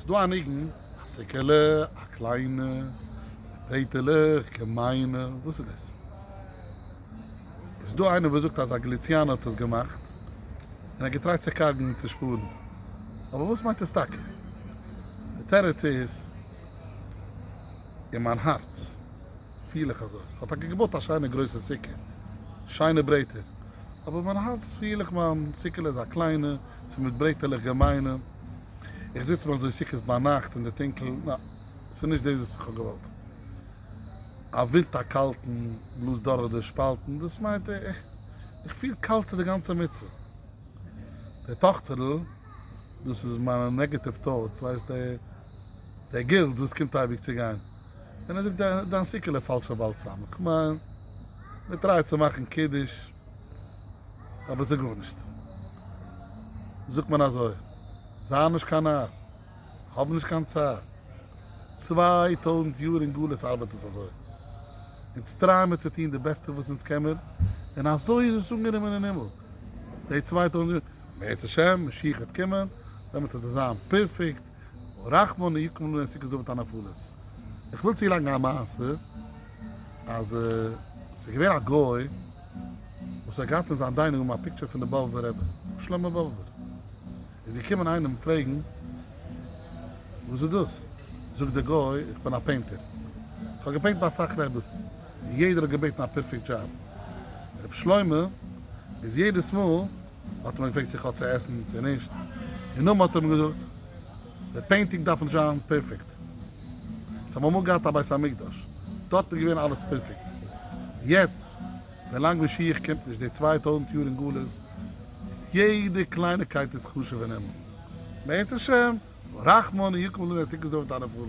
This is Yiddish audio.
ס'איז דא א ניגון, א סעקעלע א קליינע, מיט ברעטעלעך געמיינע, וואס איז דאס? איז דא איינער וואס זאגט אז א גליציאנער האט עס געמאכט, און ער האט געטרייט צו קארגן און צושפארן, אבער וואס מיינט עס טאקע? די תירוץ איז, אין מיין הארץ פיל איך אזוי, כ'האב טאקע געבויט א שיינע גרויסע סוכה, שיינע ברעטער, אבער אין מיין הארץ פיל איך מיין סעקעלע איז א קליינע, ס'איז מיט ברעטעלעך געמיינע. איך זיץ מיר אזוי סוכות ביינאכט אין די טונקל, נא, ס'איז נישט דאס וואס איך האב געוואלט. א ווינט א קאלטן בלאזט דורך די שפאלטן, דאס מיינט איך איך פיל קאלט צו די גאנצע מצוה. דער טאכטער'ל, דאס איז מיינע נעגעטיוו טאוטס, ווייסט דער דער גילד וואס קומט אייביג צו גיין, און ער זאגט דיין סוכה'לע פאלשע באלסאם, כ'מיין, מ'טרייט צו מאכן קידוש, אבער זאג גארנישט. זאגט מען אזוי, זיי נישט קיין נאר, האב נישט קיין צער. צוויי טויזנט יאר אין גלות ארבעט עס אזוי. אונז טריי מיר צו טון די בעסטע וואס אונז קען מיר, און אזוי איז עס אנגענומען אין הימל די צוויי טויזנט יאר. בעזהשם משיח וועט קומען, דעמאלט וועט עס זיין פערפעקט. רחמנא יקום לנו אין סוכות אויף די נפלות. איך וויל צולייגן א מעשה אז די ס'איז געווען א גוי וואס האט געהאט אין זיין דיינינג רום א פיקטשער פון די באבובער רבי רבי שלמה באבובער איז געקומען איינער אים פרעגן וואס איז דאס זאגט די גוי איך בין א פעינטער איך האב געפעינט ביי אסאך רביס און יעדער האט געבעטן א פערפעקט דזשאב רבי שלמה איז יעדעס מאל האט ער אים געפרעגט צו איך האב צו עסן צו נישט, און נאכדעם האט ער אים געזאגט, די פעינטינג דארף נישט זיין פערפעקט, זיי האבן אמאל געהאט א בית המקדש, דארט איז געווען אלעס פערפעקט, יעצט ווילאנג משיח קומט נישט, די צוויי טויזנט יאר אין גלות, איז יעדע קלייניקייט איז חשוב אינעם בעזהשם רחמן יקום לנו את סוכות דוד את הנפלות.